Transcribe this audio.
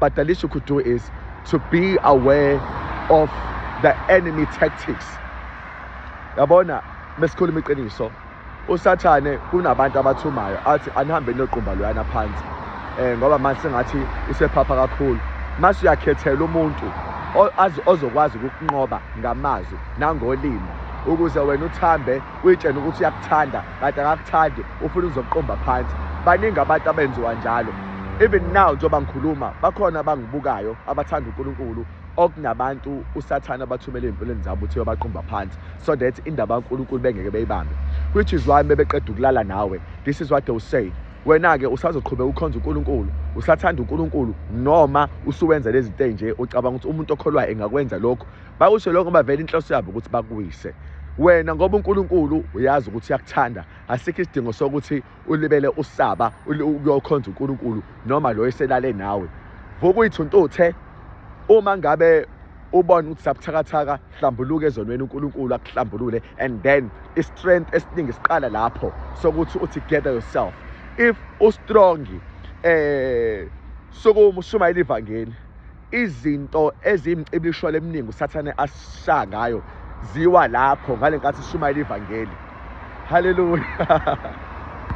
But the least you could do is to be aware of the enemy tactics. Yabona mesikhuluma iqiniso usathane kunabantu abathumayo athi anihambe noqumba loyana phansi eh ngoba manje sengathi isephapha kakhulu mase uyakhethela umuntu ozokwazi ukunqoba ngamazwi nangolimi ukuze wena uthambe uyitshena ukuthi uyakuthanda kanti akakuthandi ufuna ukuzokuqomba phansi baningi abantu abenziwa njalo even now njengoba ngikhuluma bakhona abangibukayo abathanda uNkulunkulu okunabantu usathane abathumela ezimpilweni zabo ukuthi yobaqumba phansi so that indaba kaNkulunkulu bengeke beyibambe which is why bebeqeda ukulala nawe this is what they will say wena-ke usazoqhubeka ukhonza unkulunkulu usathanda unkulunkulu noma usuwenza lezi nto nje ucabanga ukuthi umuntu okholwayo engakwenza lokhu bakusho lokho ngoba vele inhloso yabo ukuthi bakuwise wena ngoba uNkulunkulu uyazi ukuthi uyakuthanda asikho isidingo sokuthi ulibele usaba uyokhonza uNkulunkulu noma lo eselale nawe vuka uyithuntuthe uma ngabe ubone ukuthi sabuthakathaka hlambuluke ezonweni uNkulunkulu akuhlambulule and then i-strength esiningi siqala lapho sokuthi uthi gather yourself if ustrong eh sokumushumayela ivangeli izinto eziyimcibisholo eminingi usathane asisha ngayo ziwa lapho ngale nkathi sishumayela ivangeli haleluya